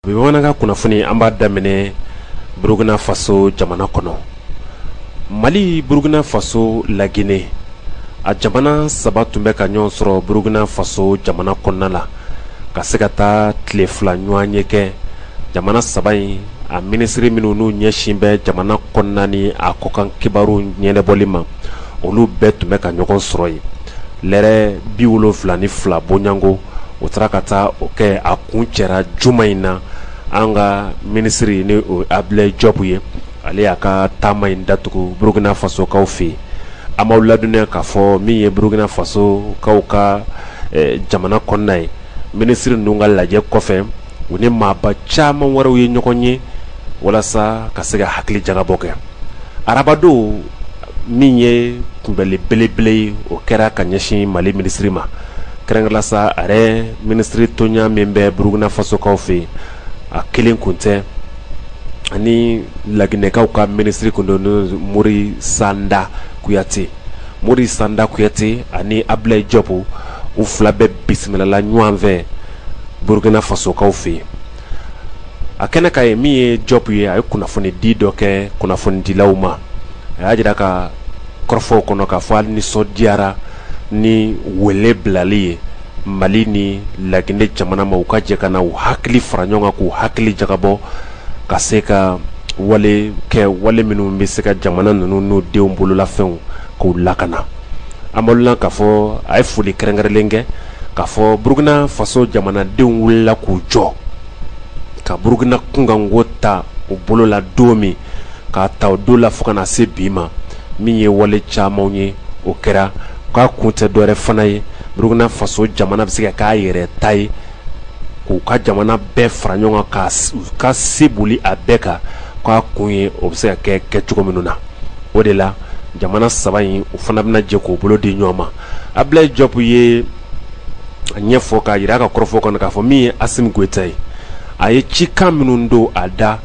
bi bamanankan kunnafoni an b'a daminɛ burukina faso jamana kɔnɔ mali burukina faso laginɛ a jamana saba tun bɛ ka ɲɔgɔn sɔrɔ burukina faso jamana kɔnɔna la ka se ka taa tile fila ɲɔgɔnye kɛ jamana saba in a minisiri minnu n'u ɲɛsin bɛ jamana kɔnɔna ni a kɔkan kibaru ɲɛnɛbɔli ma olu bɛɛ tun bɛ ka ɲɔgɔn sɔrɔ yen lɛrɛ bi wolonwula ni fila bɔɲɔgɔnko u taara ka taa o kɛ a kuncɛra juma in na an ka minisiri ni abudulayi jɔpu ye ale y'a ka taama in datugu burukina fasokaw fɛ yen an b'aw ladɔnniya k'a fɔ min ye burukina fasokaw ka jamana kɔnɔna ye minisiri ninnu ka lajɛ kɔfɛ u ni maaba caman wɛrɛw ye ɲɔgɔn ye walasa ka se ka hakili jagabɔ kɛ arabadon min ye kunbɛli belebele ye o kɛra ka ɲɛsin mali minisiri ma kɛrɛnkɛrɛnnenya la sa a yɛrɛ minisiri tɔɲɔgɔn min bɛ burukina fasokaw fɛ yen a kelen kun tɛ ani laginɛkaw ka minisiri tun don morisanda kuyate morisanda kuyate ani abulayi jɔpu u fila bɛɛ bisimilala ɲɔgɔn fɛ burukina fasokaw fɛ yen a kɛnɛ kan yen min ye jɔp ye a ye kunnafonidi dɔ kɛ kunnafonidilaw ma a y'a jira a ka kɔrɔfɔw kɔnɔ k'a fɔ a nisɔndiyara ni wele bilali ye mali ni laginɛ jamana ma u ka jɛ ka na u hakili fara ɲɔgɔn kan k'u hakili jagabɔ ka se ka wale kɛ wale minnu bɛ se ka jamana ninnu n'u denw bololafɛnw k'u lakana an b'aw ladɔnniya k'a fɔ a ye foli kɛrɛnkɛrɛnlen kɛ K'a fɔ Burukina faso jamanadenw wulila k'u jɔ, ka Burukina kunkanko ta u bolo la don min, k'a ta o don la fo ka na se bi ma, min ye wale camanw ye, o kɛra k'a kun tɛ dɔwɛrɛ fana ye, Burukina faso jamana bɛ se ka k'a yɛrɛ ta ye, k'u ka jamana bɛɛ fara ɲɔgɔn kan, ka se boli a bɛɛ kan, k'a kun ye o bɛ se ka kɛ kɛcogo minnu na, o de la jamana saba in u fana bɛna jɛ k'u bolo di ɲɔgɔn ma. abulayi jɔp ye a ɲɛfɔ k'a jira a ka kɔrɔfɔ kɔnɔ k'a fɔ min ye asimi goyita ye a ye cikan minnu don a da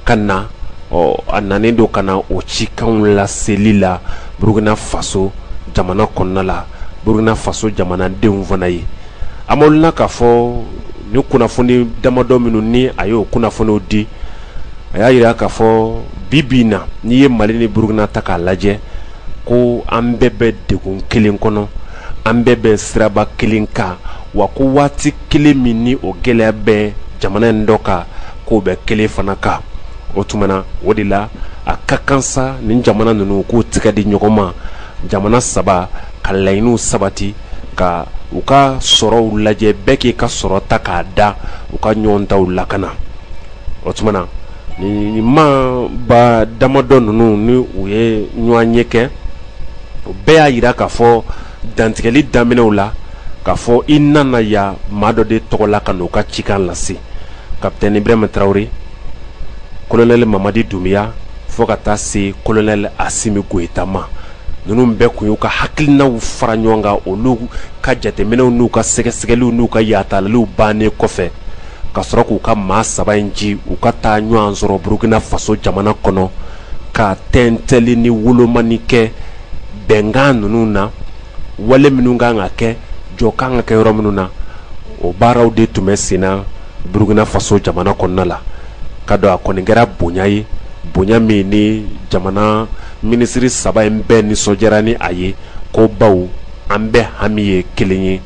ka na ɔ a nanen don ka na o cikanw laseli la burukina faso jamana kɔnɔna la burukina faso jamanadenw fana ye an b'aw ladɔnniya k'a fɔ ni kunnafoni damadɔ minnu ni a y'o kunnafoniw di a y'a jira k'a fɔ bi bi in na n'i ye mali ni burukina ta k'a lajɛ ko an bɛɛ bɛ degun kelen kɔnɔ an bɛɛ bɛ siraba kelen kan wa ko waati kelen min ni o gɛlɛya bɛ jamana in dɔ kan k'o bɛ kelen fana kan o tuma na o de la a ka kan sa nin jamana ninnu k'u tɛgɛ di ɲɔgɔn ma jamana saba ka laɲiniw sabati ka u ka sɔrɔw lajɛ bɛɛ k'i ka sɔrɔ ta k'a da u ka ɲɔgɔn taw lakana o tuma na nin maaba damadɔ ninnu ni u ye ɲɔgɔnye kɛ o bɛɛ y'a jira k'a fɔ dantigɛli daminɛw la k'a fɔ i nana yan maa dɔ de tɔgɔ la ka n'u ka cikan lase kapitɛni ibrahima tarawele kolonɛli mamadi dunbiya fo ka taa se kolonɛli asimi goyita ma ninnu bɛɛ kun y'u ka hakilinaw fara ɲɔgɔn kan olu ka jateminɛw n'u ka sɛgɛsɛgɛliw n'u ka yatalaliw bannen kɔfɛ ka sɔrɔ k'u ka maa saba in ci u ka taa ɲɔgɔn sɔrɔ burukina faso jamana kɔnɔ ka tɛntɛli ni wolomani kɛ bɛnkan ninnu na wale minnu kan ka kɛ jɔ kan ka kɛ yɔrɔ minnu na o baaraw de tun bɛ senna burukina faso jamana kɔnɔna la ka don a kɔni kɛra bonya ye bonya min ni jamana Minisiri saba in bɛɛ nisɔndiyara ni a ye ko baw an bɛɛ hami ye kelen ye,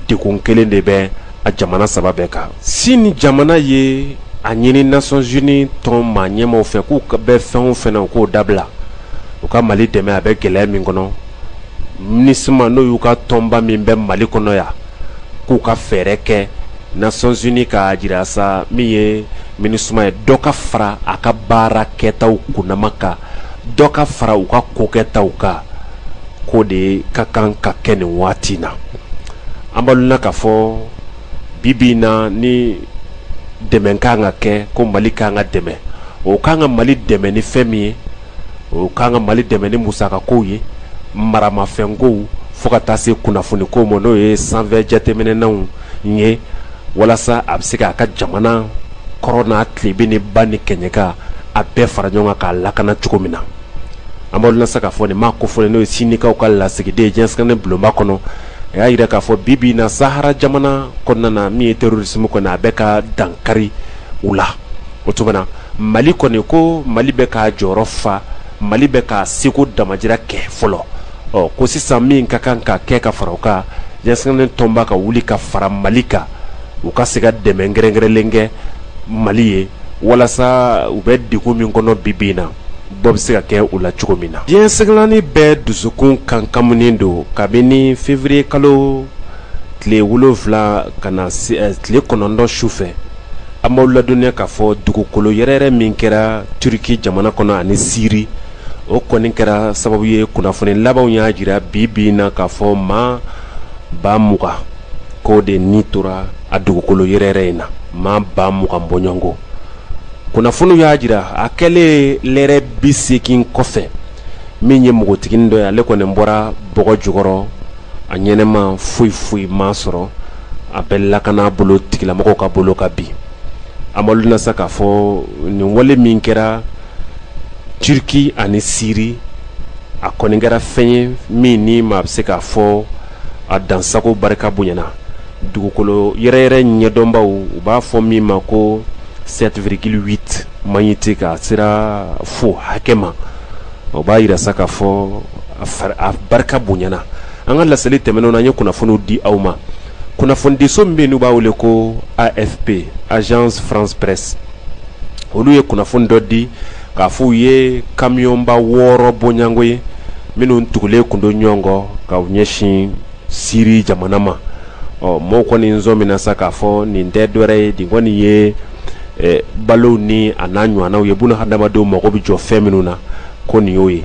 degun kelen de bɛ a jamana saba bɛɛ kan. Sini jamana ye a ɲini Nations unies tɔnba ɲɛmaaw fɛ k'u bɛ fɛn o fɛn na u k'o dabila, u ka Mali dɛmɛ a bɛ gɛlɛya min kɔnɔ. minusma n'o y'u ka tɔnba min bɛ mali kɔnɔ yan k'u ka fɛɛrɛ kɛ nations unies k'a jira sa min ye minusma ye dɔ ka fara a ka baara kɛtaw kunnama kan dɔ ka fara u ka kokɛtaw kan k'o de ka kan ka kɛ nin waati na an b'aw ladɔnniya k'a fɔ bi bi in na ni dɛmɛ ka kan ka kɛ ko mali ka kan ka dɛmɛ o ka kan ka mali dɛmɛ ni fɛn min ye o kan ka mali dɛmɛ ni musakakow ye maramafɛnkow fo ka taa se kunnafoniko ma n'o ye sanfɛ jateminɛnanw ye walasa a bɛ se k'a ka jamana kɔrɔn n'a tilebin ni ba ni kɛɲɛka a bɛɛ fara ɲɔgɔn kan k'a lakana cogo min na an b'aw ladɔnniya sa k'a fɔ nin maa kofɔlen n'o ye sinikaw ka lasigiden diɲɛ seleke naani bulonba kɔnɔ a y'a jira k'a fɔ bi bi in na sahara jamana kɔnɔna na min ye terorisimu kɔnɔ a bɛ ka dankari u la o tuma na mali kɔni ko mali bɛ k'a jɔyɔrɔ fa mali bɛ k'a seko damajira kɛ fɔlɔ ɔ ko sisan min ka kan ka kɛ ka fara o kan diɲɛ seleke naani tɔnba ka wuli ka fara mali kan u ka se ka dɛmɛ kɛrɛnkɛrɛnlen kɛ mali ye walasa u bɛ degun min kɔnɔ bi bi in na bɔ bɛ se ka kɛ o la cogo min na diɲɛ seleke naani bɛ dusukun ɲagaminen don kabini feburuyekalo tile wolonwula ka na tile kɔnɔntɔn su fɛ An b'aw ladɔnniya k'a fɔ dugukolo yɛrɛyɛrɛ min kɛra Turquie jamana kɔnɔ ani Syrie o kɔni kɛra sababu ye kunnafoni labanw y'a jira bi bi in na k'a fɔ maa ba mugan k'o de ni tora a dugukolo yɛrɛyɛrɛ in na maa ba mugan bɔɲɔgɔnko kunnafoniw y'a jira a kɛlen lɛrɛ bi seegin kɔfɛ min ye npogotiginin dɔ ye ale kɔni bɔra bɔgɔ jukɔrɔ a ɲɛnama foyi foyi m'a sɔrɔ a bɛ lakana bolo tigilamɔgɔw ka bolo kan bi an b'a dɔn na sa k'a fɔ nin wale min kɛra turki ani siri a kɔni kɛra fɛn ye min ni maa bɛ se k'a fɔ a dansago barika bonyana dugukolo yɛrɛyɛrɛ ɲɛdɔnbaw u b'a fɔ min ma ko sept virgule huit magnitude k'a sera fo hakɛ ma o b'a jira sa k'a fɔ a barika bonyana an ka laseli tɛmɛnenw na an ye kunnafoniw di aw ma kunnafonidiso min bɛ yen n'u b'a wele ko afp agence france presse olu ye kunnafoni dɔ di k'a fɔ u ye kamiyɔnba wɔɔrɔ bɔɲɔgɔnko ye minnu tugulen kun don ɲɔgɔn kɔ ka ɲɛsin siri jamana ma ɔ mɔgɔw kɔni sɔmina sa k'a fɔ nin tɛ dɔwɛrɛ ye nin kɔni ye balow ni a n'a ɲɔgɔnnaw ye buna hadamadenw mago bɛ jɔ fɛn minnu na ko nin y'o ye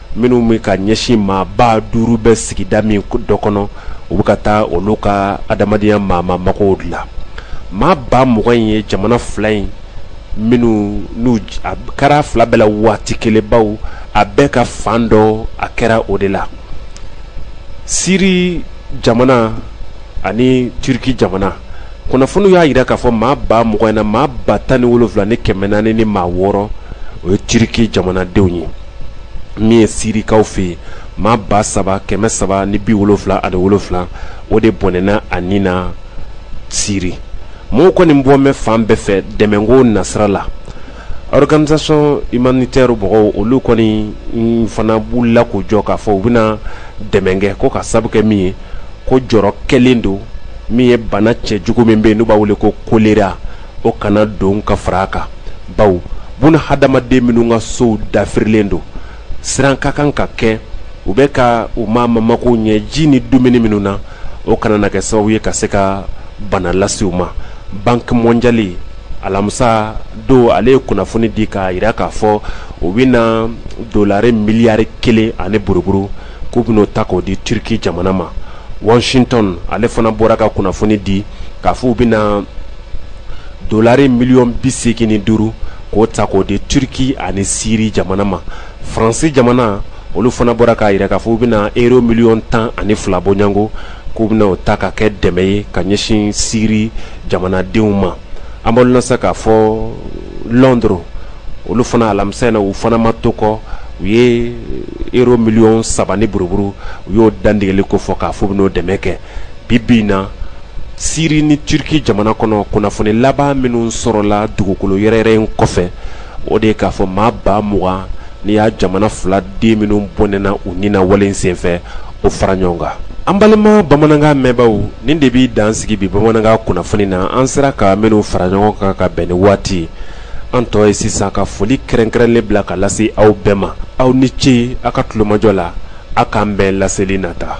minnu bɛ ka ɲɛsin maa ba duuru bɛ sigida min dɔ kɔnɔ u bɛ ka taa olu ka adamadenya maa mago dilan maa ba mugan in ye jamana fila in minnu n'a kɛra fila bɛɛ la waati kelen bawo a bɛɛ ka fan dɔ a kɛra o de la siri jamana ani turki jamana kunnafoniw y'a jira k'a fɔ maa ba mugan in na maa ba tan ni wolowula ni kɛmɛ naani ni maa wɔɔrɔ o ye turki jamanadenw ye min ye sirikaw fɛ yen maa ba saba kɛmɛ saba ni bi wolofila ani wolofila o de bɔnɛna a ni na siri mɔgɔw kɔni bɔ bɛ fan bɛɛ fɛ dɛmɛko nasira la organisation humanitaire mɔgɔw olu kɔnin fana b'u la k'u jɔ k'a fɔ u bɛna dɛmɛ kɛ ko ka sabu kɛ min ye ko jɔrɔ kɛlen don min ye bana cɛjugu min bɛ yen n'u b'a wele ko kolera o kana don ka fara a kan bawo buna hadamaden minnu ka sow dafirilen don siran ka kan ka kɛ u bɛ ka u ma mamako ɲɛ ji ni dumuni minnu na o kana na kɛ sababu ye ka se ka bana lase u ma banki mɔndiyali alamisa don ale ye kunnafoni di k'a jira k'a fɔ u bɛna dolari miliyari kelen ani buruburu k'u bɛn'o ta k'o di turiki jamana ma washington ale fana bɔra ka kunnafoni di k'a fɔ u bɛna Dɔlari miliyɔn bi segin ni duuru k'o ta k'o di turki ani siri jamana ma faransi jamana olu fana bɔra k'a jira k'a fɔ u bɛna euro miliyɔn tan ani fila bɔɲɔgɔnko k'u bɛna o ta ka kɛ dɛmɛ ye ka ɲɛsin siri jamanadenw ma an b'a dɔn sa k'a fɔ londres olu fana alamisa in na u fana ma to kɔ u ye euro miliyɔn saba ni buruburu u y'o dantigɛli ko fɔ k'a fɔ u bɛn'o dɛmɛ kɛ bi bi in na siri ni turki jamana kɔnɔ kunnafoni laban minnu sɔrɔla dugukolo yɛrɛyɛrɛ in kɔfɛ o de ye k'a fɔ maa ba mugan n'i y'a jamana fila den minnu bɔnɛna u ni na wale in senfɛ o fara ɲɔgɔn kan an balima bamanankan mɛnbaaw nin de bɛ dan sigi bi bamanankan kunnafoni na an sera ka minnu fara ɲɔgɔn kan ka bɛn ni waati an tɔ ye sisan ka foli kɛrɛnkɛrɛnlen bila ka lase aw bɛɛ ma aw ni ce aw ka tulomajɔ la aw k'an bɛn laseli nata